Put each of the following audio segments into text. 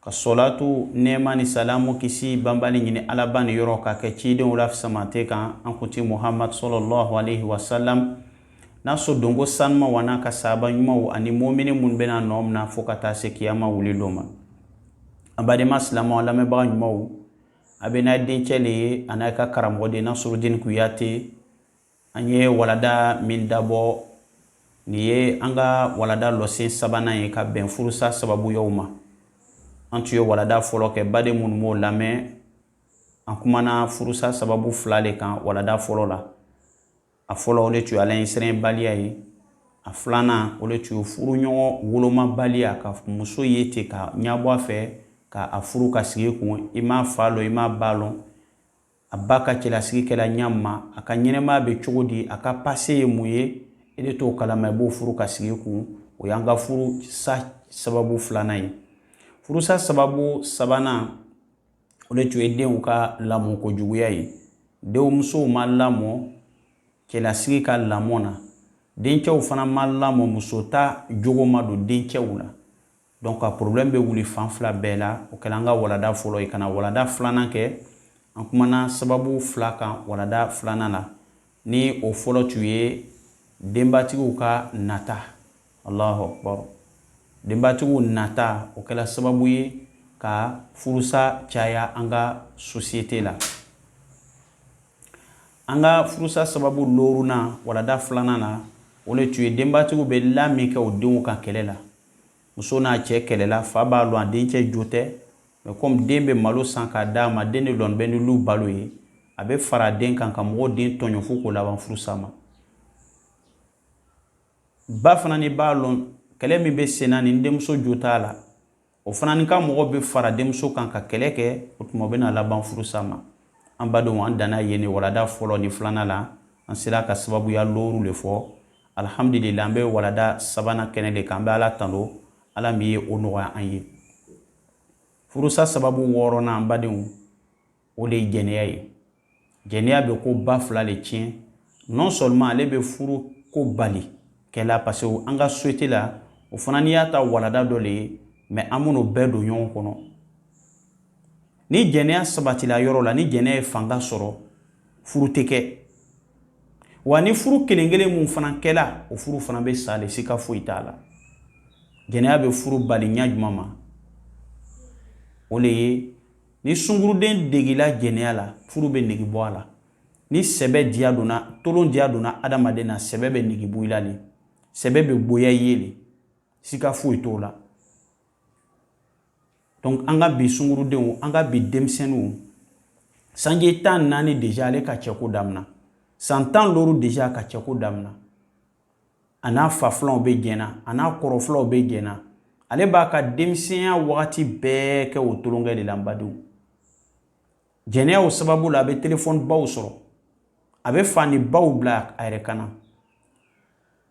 ka sɔlatu nɛɛma ni salamu kisi banbali ɲini alaba ni yɔrɔ ka kɛ cidenw la fisamante kan an kunti muhamadu sɔlɔlɔhu aleyhi wasalam n'a so donko sanimanw an'a ka saaba ɲumanw ani mumini minnu bɛn'a nɔ mina fo ka taa se kiyama wuli don ma an badenma silamɛw lamɛnbaga ɲumanw a bɛ n'a dencɛ le ye an'a ka karamɔgɔden nasurudini kuyate An ye walada min dabɔ nin ye an ka walada leçon sabanan ye ka bɛn furusa sababuyaw ma an tun ye walada fɔlɔ kɛ baden minnu m'o lamɛn an kumana furusa sababu fila de kan walada fɔlɔ la a fɔlɔ o de tun ala ɲɛsiranbaliya ye a filanan o de tun furuɲɔgɔn wolomabaliya ka muso ye ten ka ɲabɔ a fɛ k'a furu ka sigi i kun i m'a fa lɔn i m'a ba lɔn A ba ka cɛlasigi kɛla ɲa min ma, a ka ɲɛnamaya bɛ cogo di, a ka passé ye mun ye, e de t'o kalama, i b'o furu ka sigi i kun. O y'an ka furusa sababu filanan ye. Furusa sababu sabanan, o de tun ye denw ka lamɔ kojuguya ye. Denmusow ma lamɔ cɛlasigi ka lamɔ na. Dencɛw fana ma lamɔ musota jogo ma don dencɛw la. Donc a problème bɛ wuli fan fila bɛɛ la. O kɛla an ka walada fɔlɔ ye. Ka na walada filanan kɛ, an kumana sababu fila kan walada filanan la. Ni o fɔlɔ tun ye denbatigiw ka nata. Alahu akbaru! Denbatigiw nata, o kɛla sababu ye ka furusa caya an ka société la. An ka furusa sababu loorunan, walada filanan la, o le tun ye denbatigiw bɛ la min kɛ u denw ka kɛlɛ la. muso n'a cɛ kɛlɛla fa b'a lɔn a dencɛ jo tɛ mais comme den bɛ malo san k'a d'a ma den de lɔnin bɛ ni lu balo ye a bɛ fara den kan ka mɔgɔw den tɔɲɔ fo k'o laban furusa ma ba fana ni b'a lɔn kɛlɛ min bɛ senna ni denmuso jo t'a la o fana ni ka mɔgɔ bɛ fara denmuso kan ka kɛlɛ kɛ o tuma o bɛna laban furusa ma an badenw an danna yen ni walada fɔlɔ ni filanan la an sela ka sababuya looru le fɔ Alhamdulila an bɛ walada sabanan kɛnɛ de kan, an bɛ Ala tando Ala min ye o nɔgɔya an ye. Furusa sababu wɔɔrɔnan an badenw, o de ye jɛnɛya ye. Jɛnɛya bɛ ko ba fila de tiɲɛ, non seulement ale bɛ furu ko bali kɛla parce que an ka société la, o fana n'i y'a ta walada dɔ de ye mais an bɛn'o bɛɛ don ɲɔgɔn kɔnɔ. ni jɛnɛya sabatila yɔrɔ la ni jɛnɛya ye fanga sɔrɔ furu tɛ kɛ wa ni furu kelen kelen min fana kɛla o furu fana bɛ sa de sika foyi t'a la jɛnɛya bɛ furu bali ɲa jumɛn ma o de ye ni sunguruden degela jɛnɛya la furu bɛ nege bɔ a la ni sɛbɛ diya donna tolon diya donna adamaden na sɛbɛ bɛ nege bɔ i la de sɛbɛ bɛ gboya i ye de sika foyi t'o la donc an ka bi sungurudenw an ka bi denmisɛnninw sanji tan naani deja ale ka cɛko damina san tan loro deja ka cɛko damina a n'a fa filanw bɛ jɛnna a n'a kɔrɔ filanw bɛ jɛnna ale b'a ka denmisɛnya wagati bɛɛ kɛ o tolonkɛ de la n badenw jɛnɛyaw sababu la a bɛ telefɔnibaw sɔrɔ a bɛ fanibaw bila a yɛrɛ kan na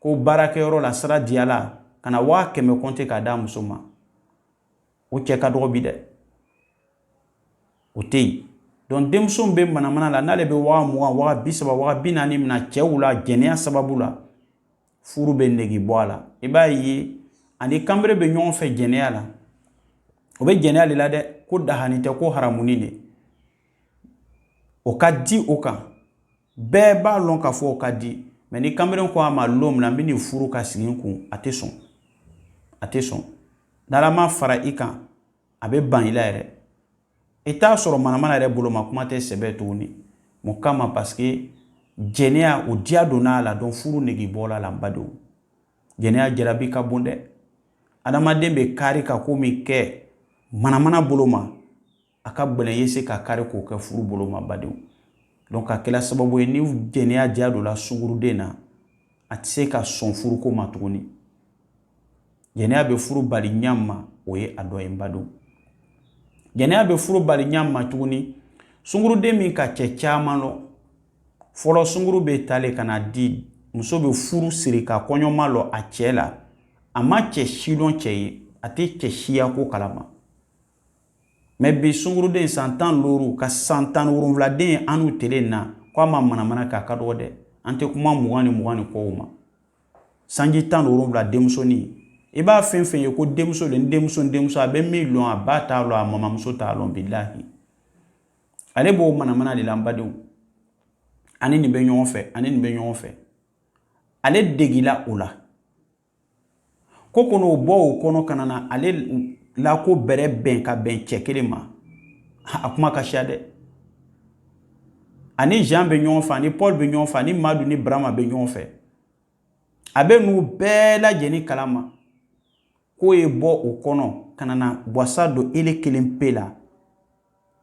ko baarakɛyɔrɔ la sira diyala ka na waa kɛmɛ kɔnte k'a d'a muso ma o cɛ ka dɔgɔ bi dɛ o tɛ yen donc denmuso bɛ manamana la n'ale bɛ waa mugan waa bi saba waa bi naani mina cɛw la jɛnɛya sababu la furu bɛ nege bɔ a la i b'a ye a ni kanbere bɛ ɲɔgɔn fɛ jɛnɛya la o bɛ jɛnɛya de la dɛ ko dahani tɛ ko haramuni de o ka di o kan bɛɛ b'a lɔn k'a fɔ o ka di mais ni kanbere ko a ma lon min na n bɛ n'i furu ka sigi n kun a tɛ sɔn a tɛ sɔn n'ala ma fara i kan a bɛ ban i la yɛrɛ i t'a sɔrɔ manamana yɛrɛ bolo ma kuma tɛ sɛbɛ tuguni mun kama parce que jɛnɛya o diya donna a la donc furu nege bɔla la n badenw jɛnɛya jarabi ka bon dɛ adamaden bɛ kari ka ko min kɛ manamana bolo ma a ka gɛlɛn ye se ka kari k'o kɛ furu bolo ma badenw donc a kɛra sababu ye ni jɛnɛya diya don la sunguruden na a tɛ se ka sɔn furuko ma tuguni jɛnɛya bɛ furu bali ɲa ma o ye a dɔ ye n badenw jɛnɛya bɛ furu bali ɲa ma tuguni sunguruden min ka cɛ caman lɔn fɔlɔ sunguru bɛ ta le ka na di muso bɛ furu siri ka kɔɲɔ malɔ a cɛ la a ma cɛ si lɔn cɛ ye a tɛ cɛ si ya ko kalama mais bi sunguruden san tan loru ka san tan wolonfiladen annu tele na ko a ma manamana k'a ka dɔgɔ dɛ an tɛ kuma mugan ni mugan ni kɔw ma sanji tan wolonfila denmusonin i b'a fɛn fɛn ye ko denmuso de denmuso denmuso a bɛ min lɔn a ba t'a lɔn a mamamuso t'a lɔn bilahi ale b'o manamana de la n badenw a ni nin bɛ ɲɔgɔn fɛ a ni nin bɛ ɲɔgɔn fɛ ale degila o la ko kɔnɔ o bɔ o kɔnɔ ka na ale la ko bɛrɛ bɛn ka bɛn cɛ kelen ma a kuma ka siya dɛ a ni jean bɛ ɲɔgɔn fɛ a ni paul bɛ ɲɔgɔn fɛ a ni madu ni barama bɛ ɲɔgɔn fɛ a bɛ n'u bɛɛ lajɛlen kalama k'o ye bɔ o kɔnɔ ka na wasa don ele kelen pe la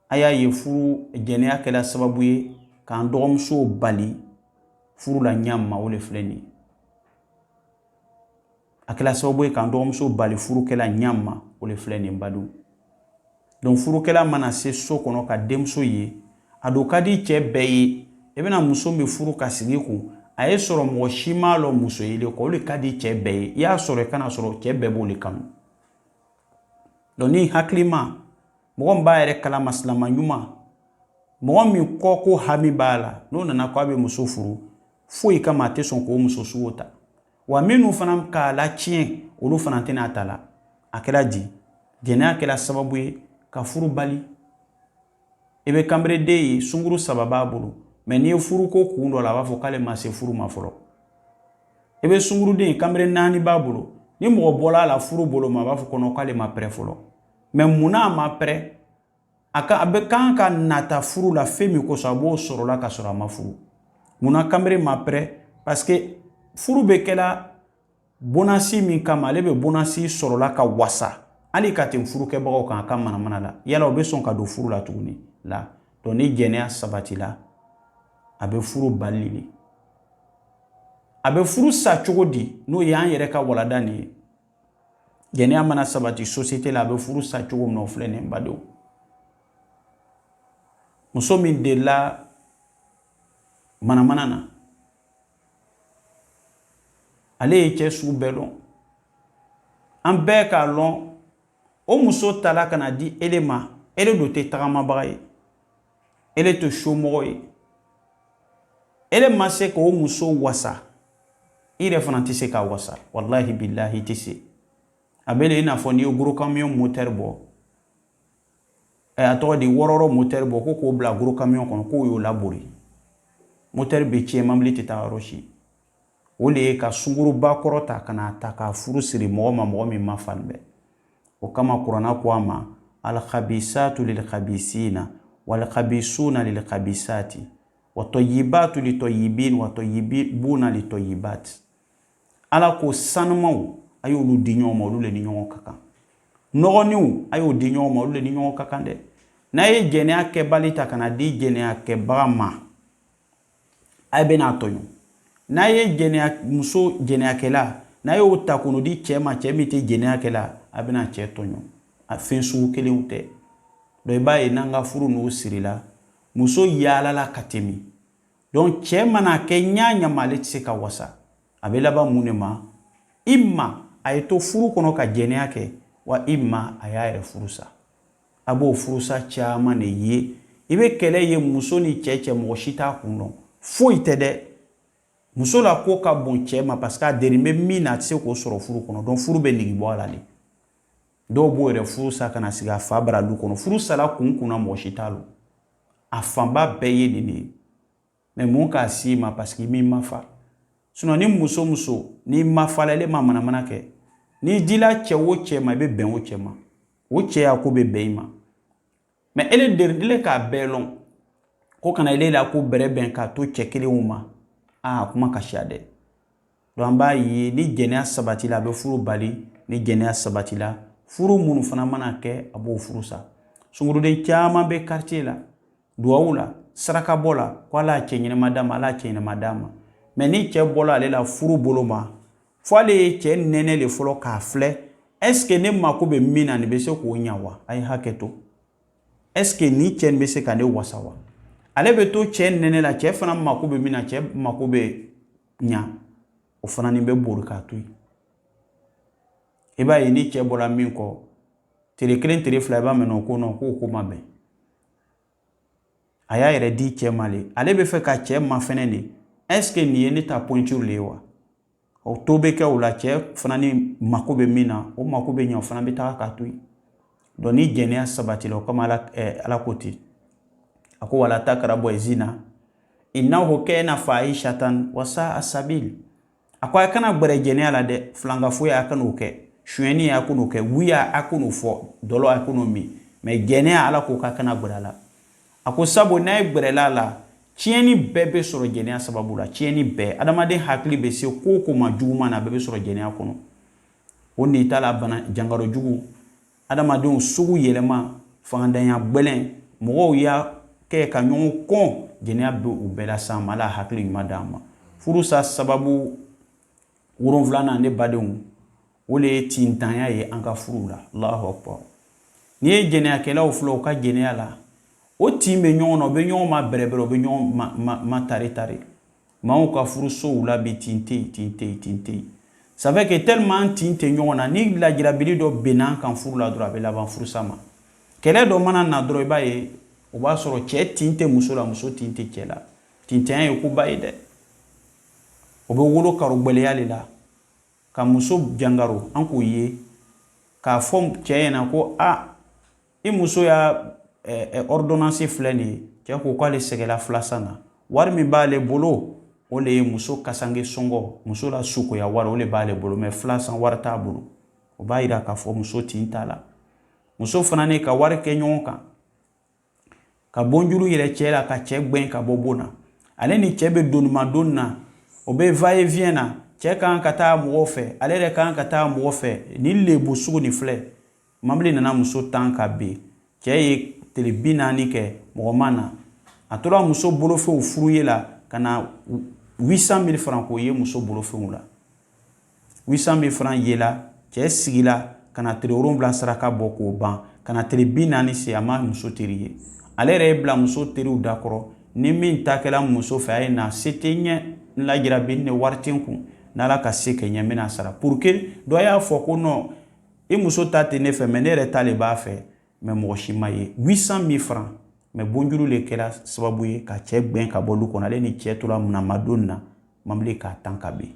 a y'a ye furu jɛnɛya kɛra sababu ye k'an dɔgɔmusow bali furu la ɲa ma o de filɛ nin ye a kɛra sababu ye k'an dɔgɔmuso bali furu kɛ la ɲa ma o de filɛ nin badenw donc furukɛla mana se so kɔnɔ ka denmuso ye a dun ka di cɛɛ bɛɛ ye i bɛna muso min furu ka sigi kun a y'a sɔrɔ mɔgɔ si m'a lɔn muso ye le kɔ o le ka di cɛɛ bɛɛ ye i y'a sɔrɔ i kan'a sɔrɔ cɛɛ bɛɛ b'o le kanu donc ni hakilima mɔgɔ min b'a yɛrɛ kalama silama ɲuman mɔgɔ min kɔ ko hami b'a la n'o nana ko a bɛ muso furu foyi kama a tɛ sɔn k'o muso sugu ta wa minnu fana k'a latiɲɛ olu fana tɛna a ta la a kɛra di jɛnɛya kɛra sababu ye ka furu bali i bɛ kanbereden ye sunguru saba b'a bolo mɛ n'i ye furu ko kun dɔ la a b'a fɔ k'ale ma se furu ma fɔlɔ i bɛ sunguruden kanbere naani b'a bolo ni mɔgɔ bɔla a la furu bolo ma a b'a fɔ k'ɔn ɔn k'ale ma pɛrɛ fɔlɔ mɛ munna a ma pɛrɛ a ka a bɛ kan ka nata furu la fɛn min kosɔn a b'o sɔrɔla ka sɔrɔ a ma furu munna kanbere ma pɛrɛ parce que furu bɛ kɛla bonasi min kama ale bɛ bonasi sɔrɔla ka wasa hali ka tɛmɛ furukɛbagaw kan a ka manamana la yala o bɛ sɔn ka don furu la tuguni la donc ni jɛnɛya sabatila a bɛ furu bali de a bɛ furu sa cogo di n'o ye an yɛrɛ ka walanda nin ye jɛnɛya mana sabati sosiyete la a bɛ furu sa cogo min na o filɛ nin badenw muso min delila manamana na ale ye cɛ sugu bɛɛ lɔn an bɛɛ k'a lɔn o muso tala ka na di ele ma ele dun tɛ tagamabaga ye e le to somɔgɔ ye e le ma se k'o muso wasa i yɛrɛ fana tɛ se k'a wasa walahi bilahi i tɛ se a bɛ le i n'a fɔ n'i ye gros camion motɛri bɔ ɛ a tɔgɔ di wɔrɔwɔrɔ motɛri bɔ ko k'o bila gros camion kɔnɔ k'o y'o labori motɛri bɛ cɛn mobili tɛ taga yɔrɔ si o le ye ka sunguruba kɔrɔ ta ka n'a ta k'a furu siri mɔgɔ ma mɔgɔ min ma fari bɛɛ o kama kurana ko an ma alkhabisatu lilkhabisina walkhabisuna lilkhabisati watɔyibatu litɔyibin watɔyibuna litɔyibati ala ko sanumaw a y'olu di ɲɔgɔn ma olu le ni ɲɔgɔn ka kan nɔgɔninw a y'o di ɲɔgɔn ma olu le ni ɲɔgɔn ka kan dɛ n'a ye jɛnɛya kɛbali ta ka na di jɛnɛya kɛbaga ma a bɛn'a tɔɲɔ n'a ye jɛnɛya muso jɛnɛyakɛla n'a y'o ta k'o di cɛ ma cɛ min tɛ jɛnɛyakɛla a bɛna cɛ tɔɲɔ a fɛn sugu kelenw tɛ donc i b'a ye n'an ka furu n'o sirila muso yaalala ka tɛmɛ donc cɛ mana kɛ ɲa o ɲa ma ale tɛ se ka wasa a bɛ laban mun le ma ima a ye to furu kɔnɔ ka jɛnɛya kɛ wa ima a y'a yɛrɛ furu sa A b'o furusa caman de ye i bɛ kɛlɛ ye muso ni cɛ cɛ mɔgɔ si t'a kun dɔn foyi tɛ dɛ muso la ko ka bon cɛ ma parce que a deri bɛ min na a tɛ se k'o sɔrɔ furu kɔnɔ donc furu bɛ nege bɔ a la de dɔw b'o yɛrɛ furu sa ka na sigi a fa bara du kɔnɔ furu sara kun kunna mɔgɔ si t'a lɔn a fanba bɛɛ ye nin de ye mais mun k'a si ma parce que m'i mafa sinon ni muso muso n'i mafa la ale ma manamana kɛ n'i dila cɛ o cɛ ma i bɛ bɛn o cɛ ma o cɛ y'a ko bɛ bɛn i ma mais ele derilen k'a bɛɛ lɔn ko kana ele la ko bɛrɛ bɛn k'a to cɛ kelen ma aa kuma ka siya dɛ donc an b'a ye ni jɛnɛya sabatila a bɛ furu bali ni jɛnɛya sabatila furu minnu fana mana kɛ a b'o furu sa sunguruden caman bɛ quartier la duwawu la sarakabɔ la ko ala ye cɛ ɲɛnama d'a ma ala ye cɛ ɲɛnama d'a ma mais ni cɛ bɔla ale la furu bolo ma fo ale ye cɛ nɛnɛ le fɔlɔ k'a filɛ est-ce que ne mako bɛ min na nin bɛ se k'o ɲa wa a ye hakɛ to est-ce que ni cɛ nin bɛ se ka ne wasa wa ale bɛ to cɛ nɛnɛ la cɛ fana mako bɛ min na cɛ mako bɛ ɲa o fana nin bɛ bori k'a to yen i b'a ye ni cɛ bɔra min kɔ tile kelen tile fila i b'a mɛn o ko nɔ k'o ko ma bɛn a y'a yɛrɛ di cɛ ma le ale bɛ fɛ ka cɛ mafɛnɛ de est-ce que nin ye ne ta pointure le ye wa o to bɛ kɛ o la cɛ fana ni mako bɛ min na o mako bɛ ɲa o fana bɛ taga k'a to yen donc ni jɛnɛya sabatila o kama ala, eh, ala ko ten a ko wala takarabu zina innahu kana fahishatan wa saa sabil a ko a kana gbɛrɛ jɛnɛya la dɛ filankafoya a kan'o kɛ sonyɛni a kan'o kɛ wuya a kan'o fɔ dɔlɔ a kan'o min mais jɛnɛya ala ko k'a kana gbɛrɛ a la a ko sabu n'a ye gbɛrɛla a la tiɲɛni bɛɛ bɛ sɔrɔ jɛnɛya sababu la tiɲɛni bɛɛ adamaden hakili bɛ se ko o ko ma juguman na a bɛɛ bɛ sɔrɔ jɛnɛya kɔnɔ o n'i ta la bana jangarɔ jugu adamadenw sugu yɛlɛma fangantanya gbɛlɛn mɔgɔw y'a kɛ ka ɲɔgɔn kɔn jɛnɛya bɛ u bɛɛ lase an ma ala hakili ɲuman d'an ma furusa sababu wolonfilanan ne badenw o de ye tintanya ye an ka furuw la allahu akbar n'i ye jɛnɛyakɛlaw filɛ u ka jɛnɛya la u tin bɛ ɲɔgɔn na u bɛ ɲɔgɔn ma bɛrɛbɛrɛ u bɛ ɲɔgɔn ma tare tare maaw ka furusow la bi tin tɛ yen tin tɛ yen tin tɛ yen ça fait que tellement an tin tɛ ɲɔgɔn na ni lajirabili dɔ benna an kan furu la dɔrɔn a bɛ laban furusa ma kɛlɛ dɔ mana na dɔrɔn i b'a ye o b'a sɔrɔ cɛ tin tɛ muso la muso tin tɛ cɛ la tintanya ye koba ye dɛ o bɛ wolo karogɛlɛya de la ka muso jangaro an k'o ye k'a fɔ cɛ ɲɛna ko a i muso y'a ɔridonansi filɛ nin ye cɛ ko k'ale sɛgɛla filasan na wari min b'ale bolo o le ye muso kasange sɔngɔ muso la sukoya wari o le b'ale bolo mɛ filasan wari t'a bolo o b'a yira k'a fɔ muso tin t'a la muso fana ne ka wari kɛ ɲɔgɔn kan ka bonjuru yɛrɛ cɛ la ka cɛ gwɛn ka bɔ bon na ale ni cɛ bɛ donimadon na o bɛ va et vient na cɛ kan ka taa mɔgɔ fɛ ale yɛrɛ kan ka taa mɔgɔ fɛ nin lebu sugu nin filɛ mabili nana muso tan ka bin cɛ ye tile bi naani kɛ mɔgɔ ma na a tora muso bolofɛnw fouiller la ka na 800 mille franc k'o ye muso bolofɛnw la 800 mille fana yela cɛ sigila ka na tile wolonwula saraka bɔ k'o ban ka na tile bi naani se a ma muso teri ye ale yɛrɛ ye bila muso teriw dakɔrɔ ni min takɛla muso fɛ a ye na se tɛ ɲɛ n lajira bi ne wari tɛ kun n' ka se kɛ ɲɛ bɛna sara pour que dɔ y'a fɔ ko non i muso ta tɛ ne fɛ mɛ ne yɛrɛ ta de b'a fɛ mɛ mɔgɔ si m'a ye 800 mille franc mɛ bonjuru de kɛra sababu ye ka cɛ gbɛn ka bɔ du kɔnɔ ale ni cɛ tora munamadon na mabili k'a tan ka bin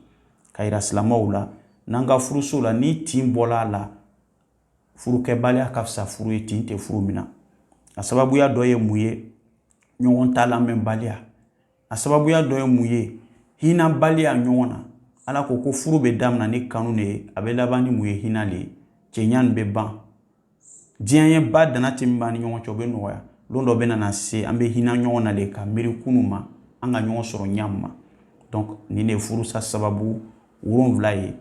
k'a yira silamaw la n'an ka furuso la ni tin bɔla a la furukɛbaliya ka fisa furu ye tin tɛ furu min na a sababuya dɔ ye mun ye ɲɔgɔn ta lamɛnbaliya a sababuya dɔ ye mun ye hinabaliya ɲɔgɔn na ala ko ko furu bɛ damina ni kanu de ye a bɛ laban ni mun ye hinɛ de ye cɛɲa nin bɛ ban diɲɛ ye ba dana tɛ min b'an ni ɲɔgɔn cɛ o bɛ nɔgɔya don dɔ bɛna na se an bɛ hinɛ ɲɔgɔn na de ka miiri kunu ma an ka ɲɔgɔn sɔrɔ ɲa min ma donc nin de ye furusa sababu wolonwula ye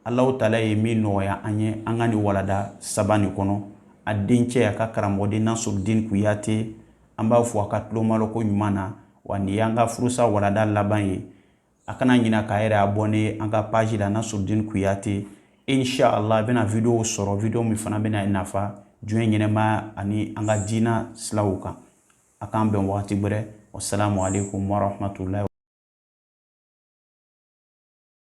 alahu taala ye min nɔgɔya an ye an ka nin walada saba nin kɔnɔ a dencɛ a ka karamɔgɔden nasurudin kuyate an b'a fo a ka tulomalɔ koɲuman na wa nin y'an ka furusa walada laban ye a kana ɲina k'a yɛrɛ abɔne an ka paji la nasurudin kuyate insha allah a bɛna videow sɔrɔ video min fana bɛn'a nafa diɲɛ ɲɛnamaya ani an ka diina silaw kan a k'an bɛn wagati wɛrɛ wasalamu aleykum warahmatulahi